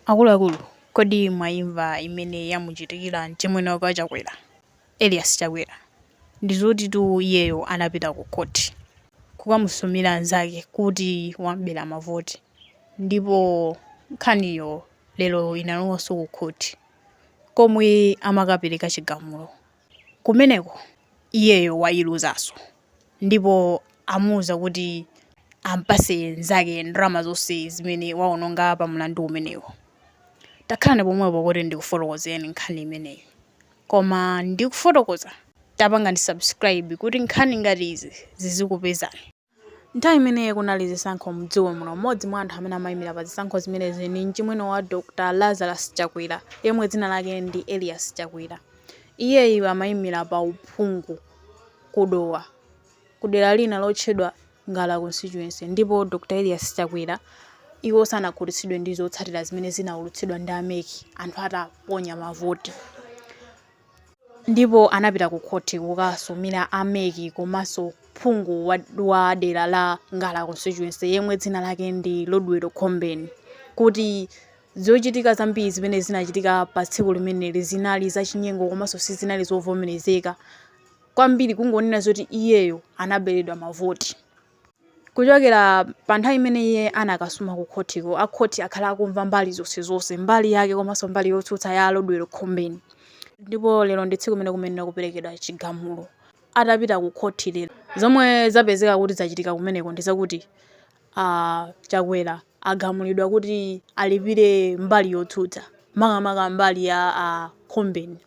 Akuluakulu kodi mwaimva imene yamuchitikira mchimwene wake Chakwera, Elias Chakwera? Ndizotitu iyeyo anapita ku court kukamusumira nzake kuti wam'bera mavoti ndipo nkhaniyo lero inalowanso ku court komwe amakapereka chigamulo. kumeneko iyeyo wailuzanso ndipo amuuza kuti ampase nzake ndalama zonse zimene waononga pa mlandu umenewo. Takhalani pomwepo kuti ndikufotokozereni nkhani imeneyi. Koma ndikufotokoza tapangani subscribe kuti nkhani ngati izi zizikupezani. Nthawi imene kunali zisankho mdziko muno, mmodzi mwa anthu amene amaimira pa zisankho zimenezi ndi mchimwene wa Dr Lazarus Chakwera yemwe dzina lake ndi Elias Chakwera. Iyeyu amaimira pa uphungu ku Dowa ku dera lina lotchedwa Ngala Constituency ndipo Dr Elias Chakwera iwo sanakhutitsidwe ndi zotsatira zimene zinaulutsidwa ndi a mec anthu ataponya mavoti. ndipo anapita ku khoti kukasumira a mec komanso phungu wa dera la ngala constituency yemwe dzina lake ndi rodwell khombeni kuti zochitika zambiri zimene zinachitika pa tsiku limeneli zinali zachinyengo komanso sizinali zovomerezeka kwambiri kungonena zoti iyeyo anaberedwa mavoti Kuchokera pa nthawi imene iye anakasuma ku khotiko, a khoti akhala akumva mbali zonsezonse, mbali yake komanso mbali yotsutsa ya a Rodwell Khombeni. Ndipo lero ndi tsiku limene kumayenera kuperekedwa chigamulo. Atapita ku khoti lero, zomwe zapezeka kuti zachitika kumeneko ndi zakuti a Chakwera agamulidwa kuti alipire mbali yotsutsa, makamaka mbali ya a Khombeni.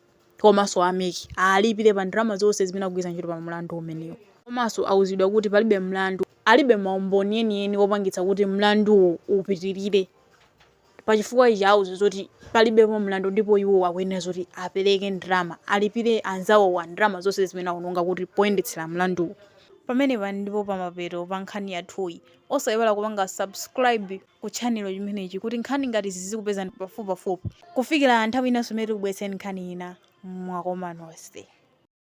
komanso a mec alipire pa ndalama zonse zimene akugwiritsa ntchito pa mlandu umenewo. Komaso auzidwa kuti palibe mlandu, alibe ma umboni enieni opangitsa kuti mlanduwu upitirire. Pa chifukwa ichi auzidwa zoti palibepo mlandu ndipo iwo akuyenera zoti apereke ndalama, alipire anzawowa ndalama zonse zimene awononga kuti poyendetsera mlanduwu. Pamenepa ndipo pamapeto pa nkhani yathuyi. Osaiwala kupanga subscribe. ku channel chimenechi kuti nkhani ngati izi zizikupezani pafupipafupi kufikira nthawi inanso imene tikubweretseni nkhani ina mwakoma nonse.